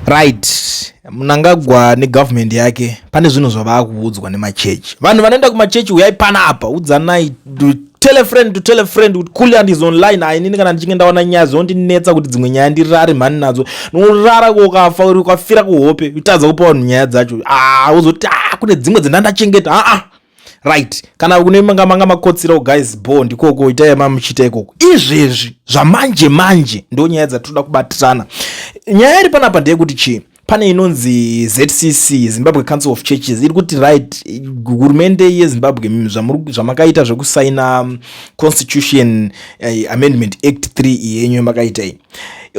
right mnangagwa negovernment yake pane zvinhu zvavaakuudzwa nemachechi vanhu vanoenda kumachechi uyai panapa udzanai tell a friend to tell a friend kuti kuliant is online ainini kana ndichinge ndaona nyaya zvinondinetsa kuti dzimwe nyaya ndirare mhani nadzo norara kokafa uri ukafira kuhope utadza kupa vanhu nyaya dzacho ah, uzoti ah, kune dzimwe dzendandachengeta aa ah, ah. right kana kune manga manga makotsirawo guys bo ndikoko itai mamuchita ikoko izvezvi zvamanje manje ndo nyaya dzatinoda kubatirana nyaya iri panapa ndeyekuti chii pane inonzi zcc zimbabwe council of churches iri kuti right hurumende yezimbabwe zvamakaita zvekusaina um, constitution uh, amendment act 3 yenyu makaita iyi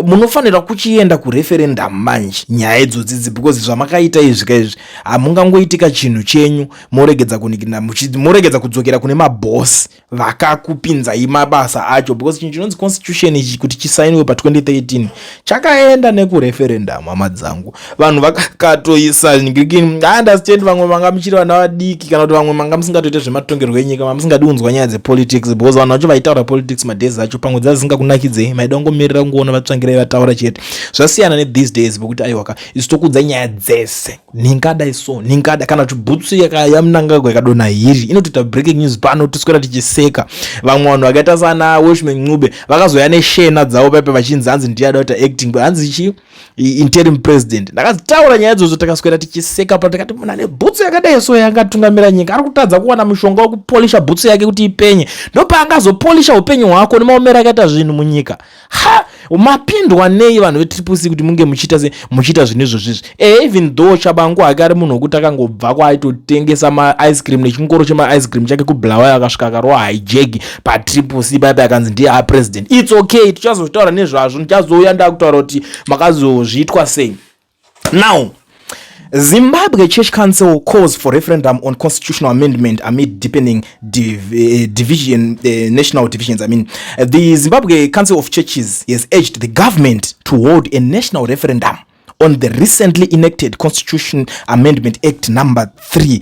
munofanira kuchienda kureferendum manje nyaya idzodzidzi because zvamakaita izvi ka izvi hamungangoitika chinhu chenyu moregedza kunikina moregedza kudzokera kune mabhosi vakakupinzai mabasa acho because chinhu chinonzi constitution ichi kuti chisainiwe pa 2013 chakaenda nekureferendum hama dzangu vanhu vakatoisa ah, understand vamwe manga muchiri vana vadiki kana kuti vamwe manga musingatoite zvematongerwo enyika mamusingadi kunzwa nyaya dzepolitics because vanhu vacho vaitaura politics madays acho pamwe dzazisingakunakidzei maida kungomirira kungoona vatsvangirai vataura chete zvasiyana nethese days pokuti aiwaka isu tokudza nyaya dzese nhingadai so nhingadai kana kuti bhutsu yamunangagwa ikadona hiri inotoita breaking news pano toswera tichiseka vamwe vanhu vakaita sana washman ncube vakazoya neshena dzavo paipe vachinzi hanzi ndiyada kuita acting hanzi chii interim president ndakazitaura nyaya idzodzo takaswera tichiseka pa takati munhu ane bhutsu yakadai so yangatungamira nyika ari kutadza kuwana mushonga wekupolisha bhutsu yake kuti ipenye ndopaangazopolisha upenyu hwako nemaomero akaita zvinhu munyika ha mapindwa nei vanhu vetriple c kuti munge muchiita se muchiita zvinhu izvozvizvi e even though chabangu hake ari munhu wekuti akangobva kwaaitotengesa maice cream nechingoro chemaice cream chake kubulawayo akasvika akarowa hijegi patriple c paipa yakanzi ndiye a president its okay tichazozvitaura nezvazvo ndichazouya ndakutaura kuti makazozviitwa sei now Zimbabwe Church Council calls for referendum on constitutional amendment amid deepening div uh, division, uh, national divisions. I mean, uh, the Zimbabwe Council of Churches has urged the government to hold a national referendum on the recently enacted Constitution Amendment Act number 3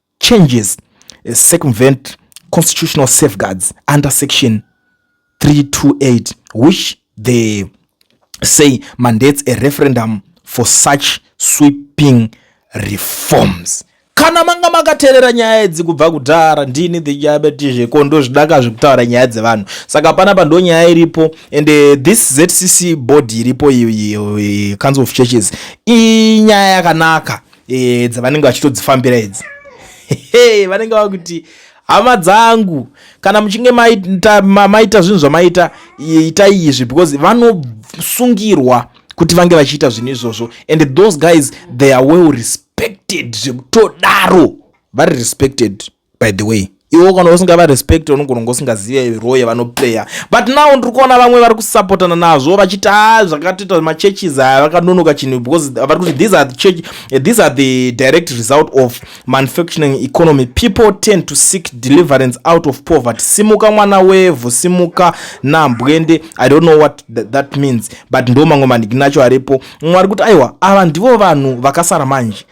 changes eh, circumvent constitutional safeguards under section 328 which they say mandates a referendum for such sweeping reforms kana manga makaterera nyaya idzi kubva kudhara ndini ndichabeti zveko ndozvidaka zvekutaura nyaya dzevanhu saka pana pando nyaya iripo and eh, this zcc body iripo council of churches inyaya yakanaka e, dzavanenge vachitodzifambira idzi vanenge vava kuti hama dzangu kana muchinge maita, ma, maita zvinhu zvamaita itai izvi because vanosungirwa kuti vange vachiita zvinhu izvozvo and those guys they are well respected zvekutodaro vari respected by the way iwo kana usingava respect unogona kunge usingazive role yavanoplayer but now ndiri kuona vamwe vari kusapotana nazvo vachiti a ah, zvakatoita machurches aya vakanonoka chinhu because vari kuti these are the church eh, these are the direct result of manufacturing economy people tend to seek deliverance out of poverty simuka mwana wevhu simuka nambwende i don't know what th that means but ndo mamwe maniginacho aripo mumwe ari kuti aiwa ava ndivo vanhu vakasara manje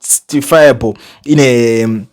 justifiable in a um,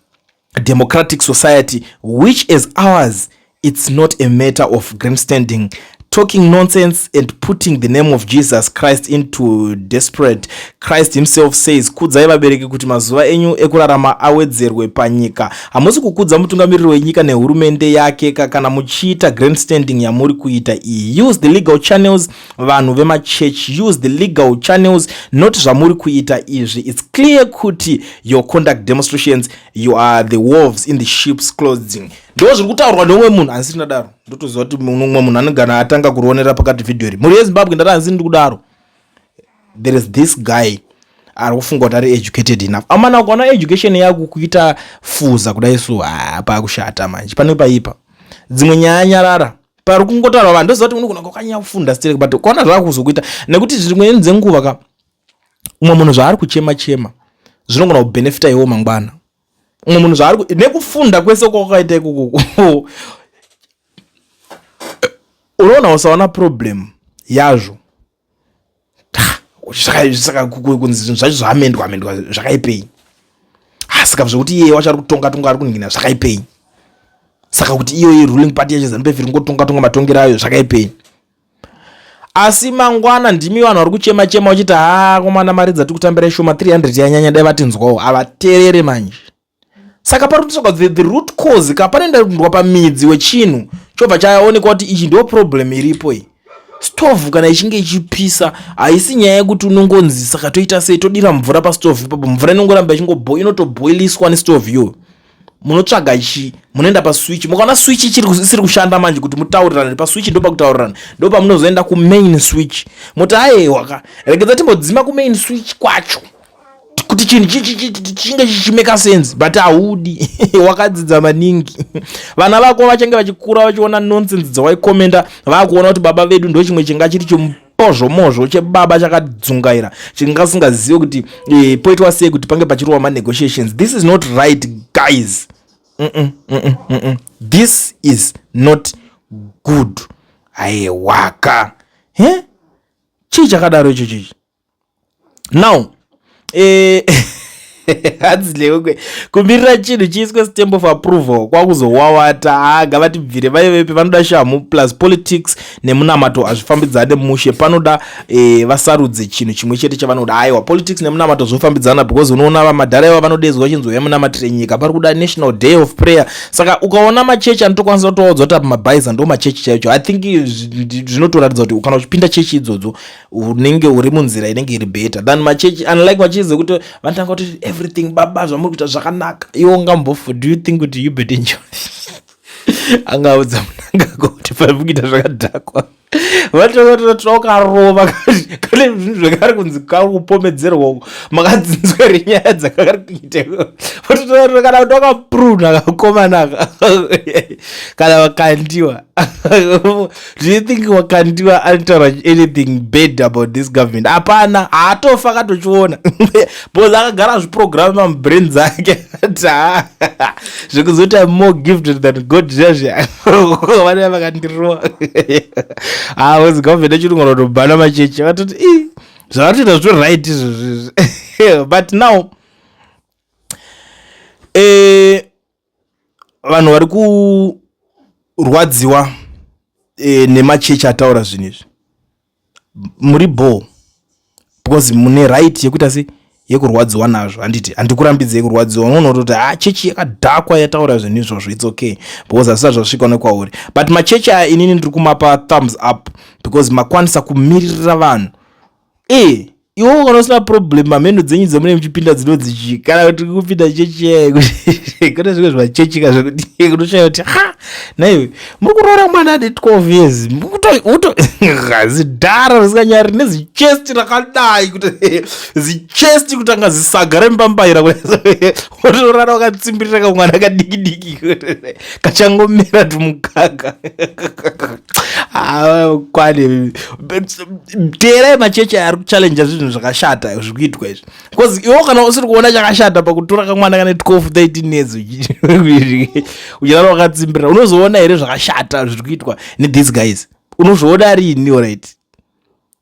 democratic society which as ours it's not a matter of grandstanding talking nonsense and putting the name of jesus christ into desperate christ himself says kudzai vabereki kuti mazuva enyu ekurarama awedzerwe panyika hamusi kukudza mutungamiriri wenyika nehurumende yake ka kana muchiita grandstanding yamuri kuita iyi use the legal channels vanhu vemachurch use the legal channels not zvamuri kuita izvi its clear kuti your conduct demonstrations you are the wolves in the ships clothing ndo zviri kutaurwa neumwe munhu hansi ndadaro ndotoziva kuti umwe munhu anogana atanga kurionera pakati vhidhiyo iri mhuri yezimbabwe ndati hansi ndiri kudaro there is this guy ari kufunga kuti ari educated enough amana ukaona education yako kuita fuza kudai so hapa kushata manje pane paipa dzimwe nyaya nyarara pari kungotaura vanhu ndoziva kuti unogona kwakanyanya kufunda sterek but kwaona zvaakuzokuita nekuti dzimweni dzenguva ka umwe munhu zvaari kuchema chema zvinogona kubenefita iwo mangwana umwe munhu zvaari nekufunda kwese kwakaita ikoko unoona usaona problem yazvo saka kunzi zvinhu zvacho zvaamendwa amendwa zvakaipei asika zvekuti iye wacho ari kutonga tonga ari kuningina zvakaipei saka kuti iyoyi ruling party yacho zanu pefiri ngotonga tonga matongero ayo zvakaipei asi mangwana ndimi vanhu vari kuchema chema uchiti haa komana mari dzati kutambira ishoma 300 yanyanya dai vatinzwawo havaterere manje saka pari kutotsvaga the, the root cause ka panoenda kundwa pamidzi wechinhu chobva chaonekwa kuti ichi ndo problem iripo iyi stove kana ichinge ichipisa haisi nyaya yekuti unongonzi saka toita sei todira mvura pastove ipapo mvura inongoramba ichingobo inotoboiliswa nestove iyoyo munotsvaga chi munoenda paswitch mukaona switch isiri kushanda manje kuti mutaurirane paswitch ndo pakutaurirana ndo pamunozoenda kumain switch moti aehwaka regedza timbodzima kumain switch kwacho kuti chinhu chinge chichimeka sense but haudi wakadzidza maningi vana vako vachange vachikura vachiona nonsense dzawaikomenda vakuona kuti baba vedu ndo chimwe chinga chiri chimozvomozvo chebaba chakadzungaira chingasingazive kuti e, poitwa sei kuti pange pachirowa manegotiations this is not right guys mm -mm, mm -mm, mm -mm. this is not good aiwaka he chii chakadaro icho chichi now eh, hanzi lewe kumirira chinhu chiiswe stamp of approval kwakuzowawata haa ngavatibvire vaivepi vanoda shamhu plus politics nemunamato hazvifambidzane mushe panoda e, vasarudze chinhu chimwe chete chavanoda aiwa politics nemunamato zvofambidzana because unoona vamadhara iva vanodezwa chinzwa yemunamatire nyika pari kuda national day of prayer saka ukaona machechi anotokwanisa kutowadzwa kuti apa mabhaiza ndo machechi chaicho i think zvinotoratidza kuti kana uchipinda chechi idzodzo unenge uri munzira inenge iri better than machechi unlike machechi dzekuti vanotanga kuti everything baba zvamuri kuita zvakanaka iwo ungambofu do you think kuti you bet enjoy angaudza munangako kuti pari kuita zvakadhakwa vatokarova kane zvinhu zvakari kunzi kari kupomedzerwa uko makadzinzwa ri nyaya dzakari kuita vatotoa kana kuti wakapruna kakomana kana vakandiwa do you think wakandiwa anotaura anything bad about this government hapana haatofa akatochiona bcause akagara zviprogramu mamubrain dzake ta zvekuzoti am more gifted than god zviya vanaa vakandirowa haozi government echirungu vanotobhana machechi vatoti i zvavatoita zvito right izvozvizvi but now eh, vanhu vari kurwadziwa e, nemachechi ataura zvinhu izvi muri bho because mune right yekuita se yekurwadziwa nazvo handiti handikurambidzei kurwadziwa unoona kutoti ha ah, chechi yakadhakwa yataura zvinhu izvozvo its okay because hazvisati zvasvika nekwauri but machechi aya inini ndiri kumapa thumbs up because makwanisa kumiririra vanhu e iwo kana usina problem mamheno dzenyu dzamune muchipinda dzinonzi chii kana kuti kupinda chechi yaye kune zvimwe zvachechika zvekuti kunoshaya kuti ha naiwe muri kuroora mwana ane 12 years mukuto zidhara risinganyari nezichesti rakadai kuti zichesti kutanga zisaga rembambaira otorara wakatsimbirira kamwana kadiki diki kachangomera tumukaka ah, kwane teerai machechi ari kuchallenja zvinhu zvakashata zviri kuitwa izvi bcause iwo kana usiri kuona chakashata pakutora kamwana kane 12 13 years uchirara wakatsimbirira unozoona here zvakashata zviri kuitwa nethese guys unozviona riini orit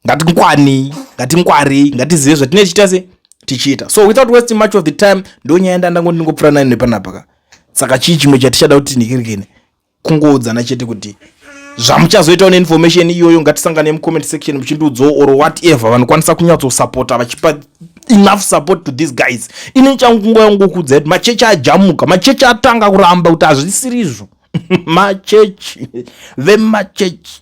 ngatingwanei ngatingwarei ngatizive zvatinenge tichiita se tichiita so without wasting much of the time ndonyaya yanda ndangoti ndingopfura nayo nepanapaka saka chii chimwe chatichada kuti ndikirikene kungoudzana chete kuti zvamuchazoitawo neinformation iyoyo ngatisangane mucomment section muchindiudzawo or whatever vanokwanisa kunyatsosapota vachipa enough support to these guys ini nichangungoya kungokuudza kuti machechi ajamuka machechi atanga kuramba kuti hazvisiri izvo machechi vemachechi